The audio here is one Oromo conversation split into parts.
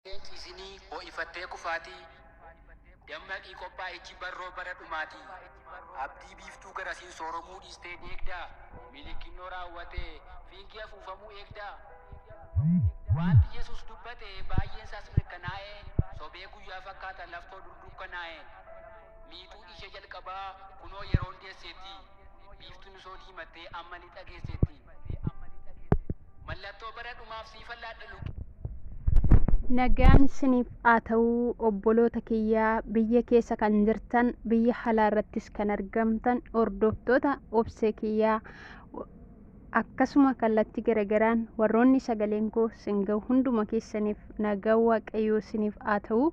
Hin ciisinii ho'ifattee kufaatii Dammaqii qophaa'ichi barroo bara dhumaatii Abdii biiftuu garasiin sooromuu dhiistee deegdaa Milikinnoo raawwatee fiingii afuufamuu eegdaa Waanti Yesuus dubbate baay'een isaas mirkanaa'e Sobee guyyaa fakkaata laftoo dur dukkanaa'e Miixuu ishee jalqabaa kunoo yeroon deesseetti Biiftuun osoo diimattee amma lixa geesseetti. Mallattoo bara dhumaaf siifan laadha lubbuu. Nagaan siniif haa ta'uu obboloota kiyyaa biyya keessa kan jirtan biyya halaa irrattis kan argamtan hordoftoota obsee kiyyaa akkasuma kallattii garagaraan warroonni sagaleen koo sin ga'u hunduma keessaniif nagaa waaqayyoo siniif haa ta'uu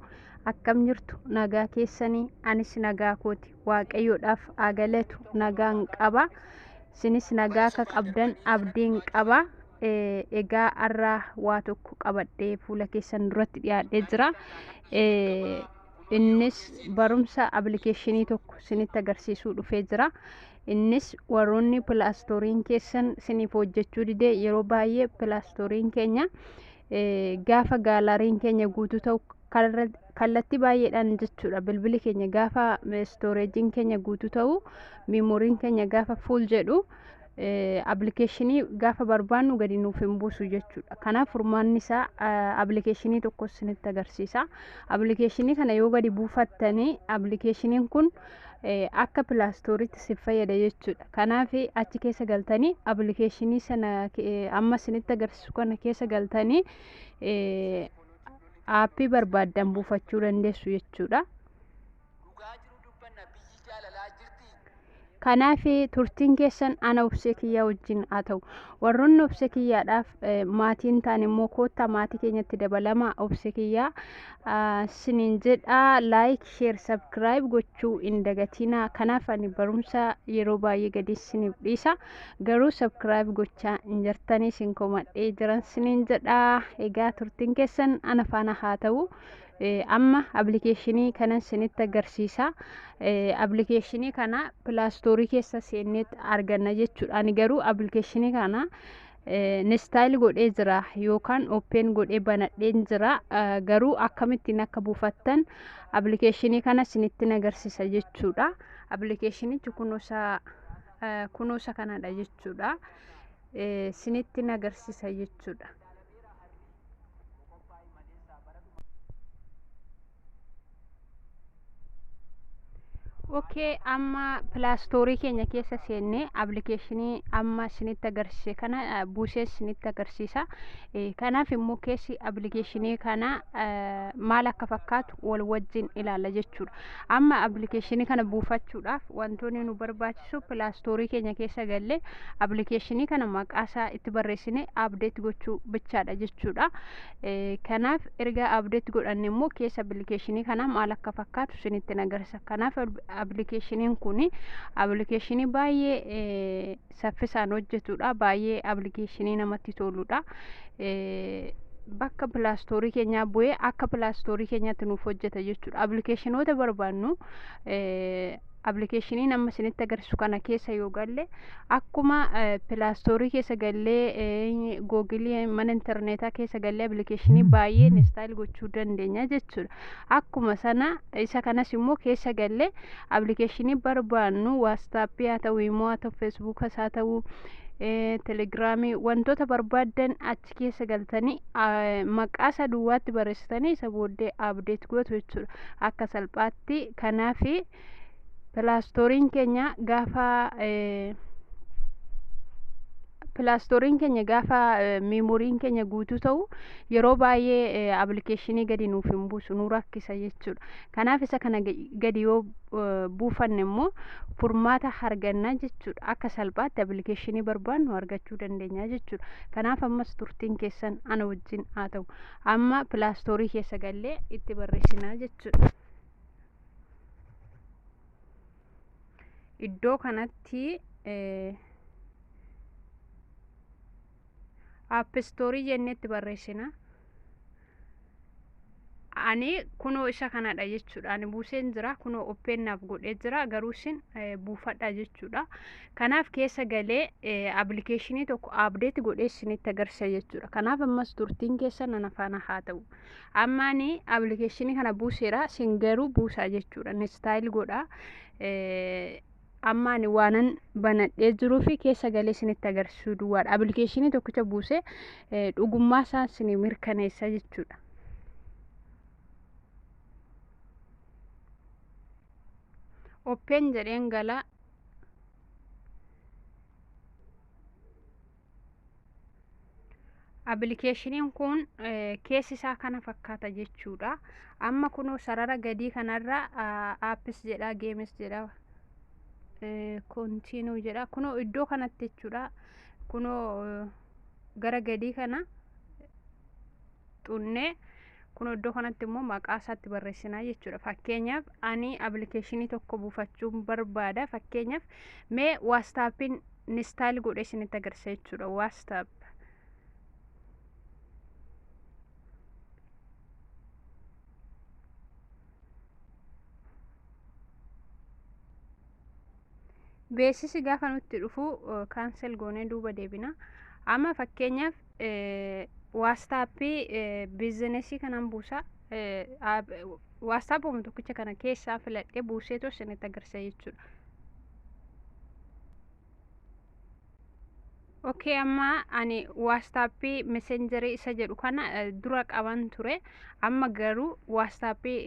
akkam jirtu nagaa keessanii anis nagaa kooti waaqayyoodhaaf haa galatu nagaan qaba isinis nagaa akka qabdan abdiin qaba Eh, egaa har'a waa tokko qabadhee fuula keessan duratti dhiyaadhee jira Eh, innis barumsa appilikeeshinii tokko isinitti agarsiisuu dhufee jira innis warroonni pilaastooriin keessan isiniif hojjechuu didee yeroo baay'ee pilaastooriin keenya eh, gaafa gaalariin keenya guutuu ta'u kanarra kallattii baay'eedhaan jechuudha bilbili keenya gaafa istooreejiin keenya guutuu ta'u miimooriin keenya gaafa fuul jedhu appilikeeshinii gaafa barbaannu gadi nuuf hin buusu jechuudha kanaaf furmaanni isaa appilikeeshinii tokko isinitti agarsiisa appilikeeshinii kana yoo gadi buufattanii appilikeeshiniin kun akka pilaastooriitti si fayyada jechuudha kanaaf achi keessa galtanii appilikeeshinii sana amma isinitti agarsiisu kana keessa galtanii aappii barbaaddan buufachuu dandeessu jechuudha. Dhugaa jiru dubbanna biyyi jaalalaa jirti. Kanaaf turtiin keessan ana obsee kiyyaa wajjin haa ta'u. Warroonni obsee kiyyaadhaaf eh, maatii hin taane immoo koottaa maatii keenyatti dabalama obsee kiyyaa ah, siniin jedha laayik sheer sabskiraayib gochuu hin dagatinaa. Kanaaf ani barumsa yeroo baay'ee gadi siniif dhiisa. garuu subscribe gochaa hin jirtanii sin komadhee jiran sinin jedhaa egaa turtiin keessan ana faana haa ta'u amma appilikeeshinii kanan sinitti agarsiisa appilikeeshinii kana pilaastoorii keessa seenneet arganna jechuudha ani garuu appilikeeshinii kana nistaayil godhee jira yookaan oppeen godhee banadheen jira garuu akkamittiin akka buufattan appilikeeshinii kana sinitti agarsiisa jechuudha appilikeeshinichi kunuusaa kunuusa kanadha jechuudha sinitti nagarsiisa jechuudha Ookee amma pilaastoorii keenya keessa seennee appilikeeshinii amma isinitti agarsiise kana buusee isinitti agarsiisa. Kanaaf immoo keessi appilikeeshinii kana maal akka fakkaatu wal wajjin ilaalla jechuudha. Amma appilikeeshinii kana buufachuudhaaf wantoonni nu barbaachisu pilaastoorii keenya keessa gallee appilikeeshinii kana maqaa isaa itti barreessinee abdeet gochuu bichaadha jechuudha. Kanaaf erga abdeet godhanne immoo keessa appilikeeshinii kanaa maal akka fakkaatu isinitti nagarsa. Kanaaf appilikeeshiniin kun appilikeeshinii baay'ee saffisaan hojjetudha baay'ee appilikeeshinii namatti toludha bakka pilaastoorii keenyaa bu'ee akka pilaastoorii keenyaatti nuuf hojjeta jechuudha appilikeeshinoota barbaannu appilikeeshinii nama isinitti agarsiisu kana keessa yoo galle akkuma pilaastoorii keessa gallee googilii mana intarneetaa keessa gallee appilikeeshinii baay'ee instaayil gochuu dandeenya jechuudha akkuma sana isa kanas immoo keessa galle appilikeeshinii barbaannu waastaappii haa ta'u imoo haa ta'u feesbuukas haa ta'u telegiraamii wantoota barbaaddan achi keessa galtanii maqaa isa duwwaatti barreessitanii isa booddee abdeet gootu jechuudha akka salphaatti kanaafi pilaastooriin keenya gaafa pilaastooriin keenya gaafa meemoriin keenya guutuu ta'u yeroo baay'ee appilikeeshinii gadi nuuf hin buusu nu rakkisa jechuudha kanaaf isa kana gadi yoo buufanne immoo furmaata arganna jechuudha akka salphaatti appilikeeshinii barbaannu argachuu dandeenya jechuudha kanaaf ammas turtiin keessan ana wajjin haa ta'u amma pilaastoorii keessa gallee itti barreessinaa jechuudha iddoo kanatti appistoorii jennetti barreessina ani kunoo isa kanadha jechuudha ani buuseen jira kunoo oppeen naaf godhee jira garuu isin buufadha jechuudha kanaaf keessa galee appilikeeshinii tokko abdeeti godhee isinitti agarsiisa jechuudha kanaaf ammas turtiin keessa nana faana haa ta'u Ammaan appilikeeshinii kana buuseera sin garuu buusaa jechuudha. Nistaayil godha. Ammaan waanan banadhee jiruu fi keessa galee sinitti agarsiisuu duwwaadha. Appilikeeshinii tokkicha buusee dhugummaa isaa sin mirkaneessa jechuudha. Oppeen jedheen galaa. Abilikeeshiniin kun keessi isaa kana fakkaata jechuudha. Amma kunoo sarara gadii kanarra aappis jedha geemis jedha kontiinuu jedha kunoo iddoo kanatti jechuudha. Kunoo gara gadii kana xunnee. Kun iddoo kanatti immoo maqaa isaatti barreessinaa jechuudha. Fakkeenyaaf ani appilikeeshinii tokko buufachuun barbaada. Fakkeenyaaf mee waastaappiin nistaayil godhee isinitti agarsiisa jechuudha. Waastaap. Beeksisi gaafa nutti dhufu kaansel goonee duuba deebina. Amma fakkeenyaaf waastaappii biizinesii kanan buusa waastaapuma tokkicha kana keessaa filadhee buuseetu isinitti agarsiisa jechuudha. Okkee amma ani waastaappii meseenjarii isa jedhu kana dura qaban ture. amma garuu waastaappii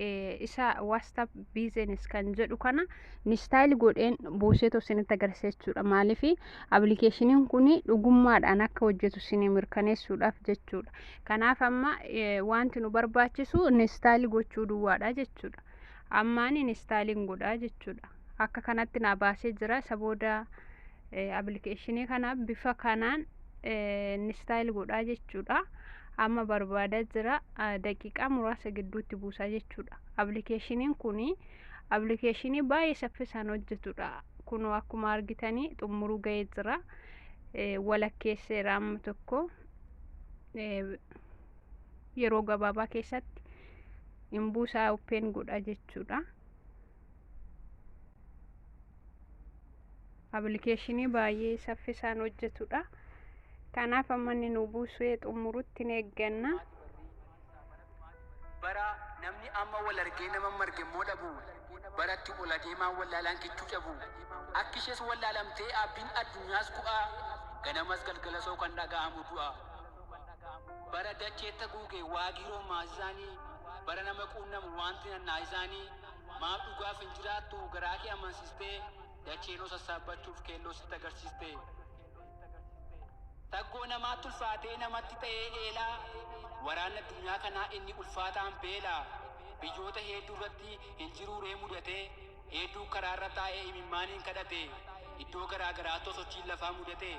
isa waastaap biizinis kan jedhu kana nistaayil godheen buuseetu isinitti agarsiisa jechuudha maaliif abilikeeshiniin kun dhugummaadhaan akka hojjetu isinii mirkaneessuudhaaf jechuudha kanaaf amma wanti nu barbaachisu nistaayil gochuu duwwaadha jechuudha ammaan nistaayiliin godhaa jechuudha akka kanatti naa baasee jira isa booda abilikeeshinii kana bifa kanaan nistaayil godhaa jechuudha. Amma barbaadaa jira daqiiqaa muraasa gidduutti buusaa jechuudha. Appilikeeshiniin kun appilikeeshinii baay'ee saffisaan hojjetudha. Kunoo akkuma argitanii xumuruu ga'ee jira. Walakkeesseera amma tokko yeroo gabaabaa keessatti hin buusaa open godha jechuudha. Appilikeeshinii baay'ee saffisaan hojjetudha. Kanaaf amma inni nu buusee xumurutti ni eegganna. bara namni amma wal argee nama marge immoo dhabu baratti ol adeemaa wallaalaan kichuu cabu akki ishees wallaalamtee abdiin addunyaas gu'aa ganamas galgalasoo kan dhaga'amu du'a bara dacheetta guuge waagii roomaasisaanii bara nama quunnamu wanti nannaa isaanii Maaf dhugaaf hin jiraattu garaa kee amansistee dachee noo sassaabbachuuf keelloo sitti agarsiiste. Saggoo namaatti ulfaatee namatti ta'ee eelaa waraanni addunyaa kanaa inni ulfaataan beela biyyoota heedduu irratti hin jiruu ree mudatee heedduu karaarra taa'ee imimmaaniin kadhate iddoo garaa garaatoo sochiin lafaa mudate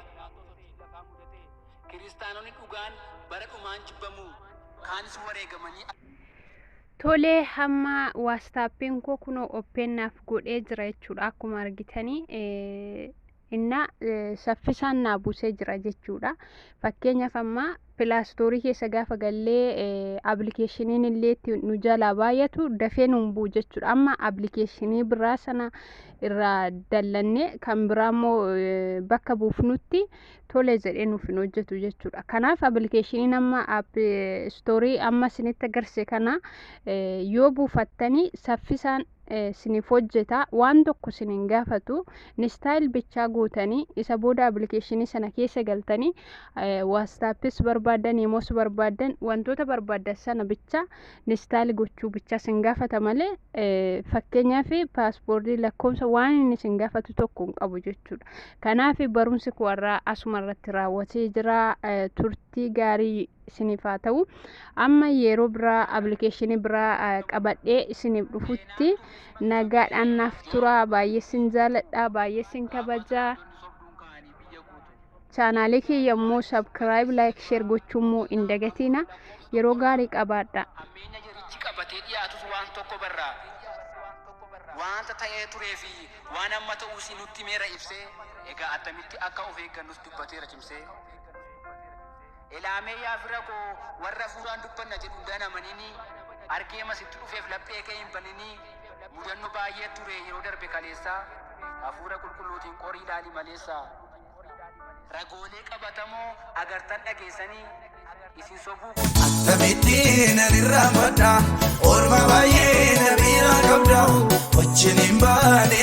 kiristaanonni dhugaan bara dhumaan jibbamu kaanis wareegamanii Tolee hamma waastaappiin koo kunoo oppeen naaf godhee jira jechuudha akkuma argitanii inna saffisaan naa buusee jira jechuudha fakkeenyaaf amma pilaastoorii keessa gaafa gallee appilikeeshiniin illee itti nu jalaa baay'atu dafee nuun bu'u jechuudha amma appilikeeshinii biraa sana irraa dallannee kan biraa immoo bakka buufnutti tole jedhee nuuf hin hojjetu jechuudha. Kanaaf appilikeeshiniin amma app istoorii amma isinitti agarse kana yoo buufattanii saffisaan isiniif hojjeta waan tokko isin hin gaafatu nistaayil bichaa guutanii isa booda appilikeeshinii sana keessa galtanii waastaappis barbaadan yemos barbaadan wantoota barbaadan sana bicha Install gochuu bicha sin gaafata malee fakkeenyaaf paaspoortii lakkoofsa waan inni sin gaafatu tokko hin qabu jechuudha. Kanaaf barumsi koo irraa asuma irratti raawwatee jira turtii gaarii isiniif haa ta'u. Amma yeroo biraa appilikeeshinii biraa qabadhee isiniif dhufutti nagaadhaan naaf turaa baay'ee sin jaaladha baay'ee sin kabajaa. Chaanaalee kiyya immoo subscribe, like, share gochuu immoo hin dagatiina. Yeroo gaarii qabaadha. Hammeenya jarichi qabatee dhiyaatus waan tokko barra. Waanta ta'ee turee fi waan amma ta'uus nutti himeera ibsee, egaa attamitti akka of eeggannus dubbateera cimsee. Elaamee yaa fira koo warra afuuraan dubbanna jedhu hundaa hin amaninii argee ma sitti dhufeef laphee kee hin baninii mudanno baay'ee ture yeroo darbe kaleessaa afuura qulqulluutiin qorii ilaali maleessaa ragoolee qabatamoo agartan dhageessanii isin sobuu koo Tamittiin anirraa madda Orma baay'ee na biraa qabda Wajjin hin baane